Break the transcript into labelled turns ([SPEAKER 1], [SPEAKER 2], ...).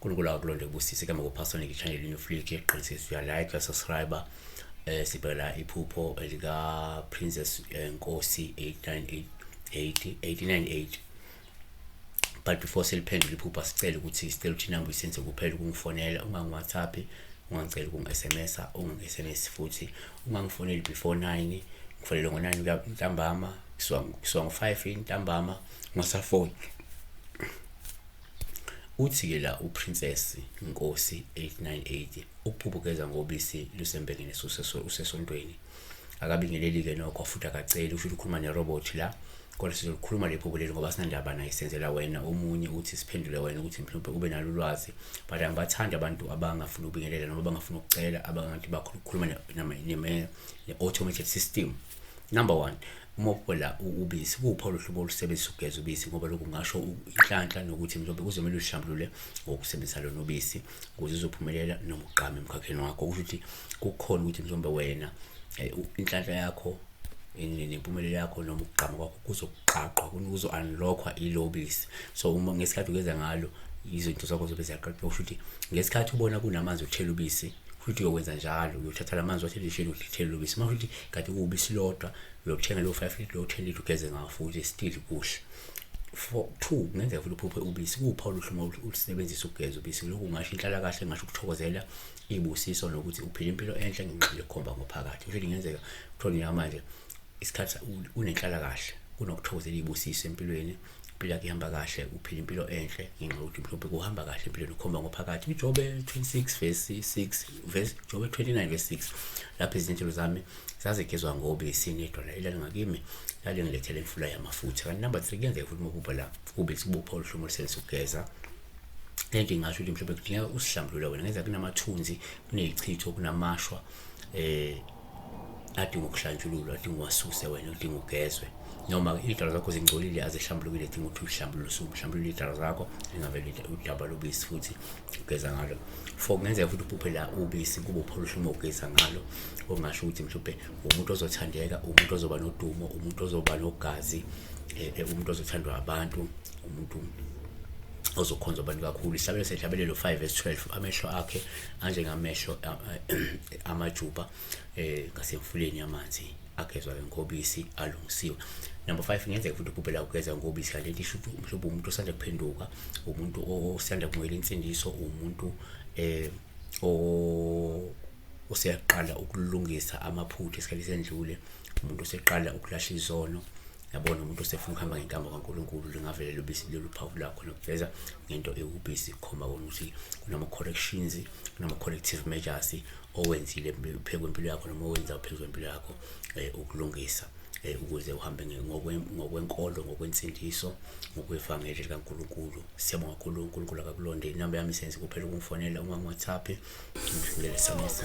[SPEAKER 1] uNkulunkulu akulonde kubusise kambe kuphasonike ichannel yenu futhi qinisisa uya like uya subscribe eh sibhela iphupho elika Princess eh, Nkosi 898 898 but before seliphendula iphupha sicela ukuthi sicela ukuthi inamba uyisenze kuphela ukungifonela ungangi-whatsapp ungangicela ukungi-sms ungangi-sms futhi ungangifoneli before nine ngifonele ngo-nine ntambama kusuka ngo-five intambama ngasafoni uthi-ke la uprincess inkosi 898 ukuphupha ugeza ngobisi lusembengeni usesontweni akabingeleli-ke nokho futhi akaceli usho ukuthi ukhuluma nerobot la kodwa sizolikhuluma lephupho leli ngoba sinandaba naye senzela wena omunye uthi siphendule wena ukuthi mhlawumbe ube nalo ulwazi but angibathandi abantu abangafuni ukubingelela noma abangafuni ukucela abangathi bakhuluma ne-automated system number one uma uphela ubisi kuphi oluhlobo olusebenzisa ukugeza ubisi ngoba lokhu ngasho inhlanhla nokuthi mhlawumbe kuzomele uhlambulule ngokusebenzisa lona ubisi ukuze uzophumelela noma ugqame emkhakheni wakho kusho ukuthi kukhona ukuthi mhlawumbe wena eh, inhlanhla yakho nempumelelo yakho noma ukugqama kwakho kuzoqaqwa kuzo-unlockwa i-lobis so uma ngesikhathi ukwenza ngalo izinto zakho zobe ziyaqaqwa kusho ukuthi ngesikhathi ubona kunamanzi okuthela ubisi futhi uyokwenza njalo uyothatha la manzi wathethishini uhlithele lobisi uma futhi kade kuwubisi lodwa uyokuthenga leyo five litre leyo ten litre ugeze ngawo futhi still kuhle for two kungenzeka futhi uphuphe ubisi kuwuphawu luhlumo ulusebenzisa ukugeza ubisi lokhu ngasho inhlalakahle ngasho ukuthokozela ibusiso nokuthi uphila impilo enhle ngenxa yokukhomba ngophakathi kusho ukuthi kungenzeka kuthiwa nina manje isikhathi unenhlala kahle kunokuthokozela ibusiso empilweni impilo yakhe ihamba kahle uphila impilo enhle ngenxa yokuthi mhlawumbe kuhamba kahle empilweni ukhomba ngophakathi ujobe 26 verse 6 verse jobe 29 verse 6 lapho izinhlelo zami zazigezwa ngobisi nedona elalingakimi lalingilethela imfula yamafutha kanti number 3 kuyenzeka futhi uma ububha la kube sibupha oluhlumo luselisugeza lento ingasho ukuthi mhlawumbe kudingeka usihlambulule wena ngenza kunamathunzi kunezichitho kunamashwa eh adinga ukuhlantshululwa adinga uwasuse wena udinga ugezwe noma iy'dalo zakho zingcolile azihlambulukile edinga ukuthi uhlambulule usuhlambulule iy'dalo zakho lingavele udaba lobisi futhi ugeza ngalo for kungenzeka futhi uphuphe la ubisi kube upholusha uma ugeza ngalo okungasho ukuthi mhlawumbe umuntu ozothandeka umuntu ozoba nodumo umuntu ozoba nogazi um umuntu ozothandwa abantu umuntu ozokhonza abantu kakhulu isabelo sehlabelelo 5 verse 12 amehlo akhe anjengamehlo amajuba eh ngasemfuleni yamanzi agezwa ngenkobisi alungisiwe number 5 ngenzeka futhi ukubhela ukugeza ngobisi kanti into isho ukuthi mhlawumbe umuntu osanda kuphenduka umuntu osanda kumukela insindiso umuntu eh o useyaqala ukulungisa amaphutha esikhathi sendlule umuntu useqala ukulahla izono yabona umuntu usefuna ukuhamba ngenkambo kaNkulunkulu lingavele lubisi lolu phawu lakho nokuveza ngento ewubisi khomba kona ukuthi kunama-corrections kunama-corrective measures owenzile phezu kwempilo yakho noma owenza phezu kwempilo yakho um ukulungisa Eh, ukuze uhambe ngokwenkolo ngokwensindiso ngokwevangeli likaNkulunkulu siyabonga kakhulu uNkulunkulu akakulonde inamba yami senze kuphela ukungifonela uma ngiwhatsapp ngidlulele samisa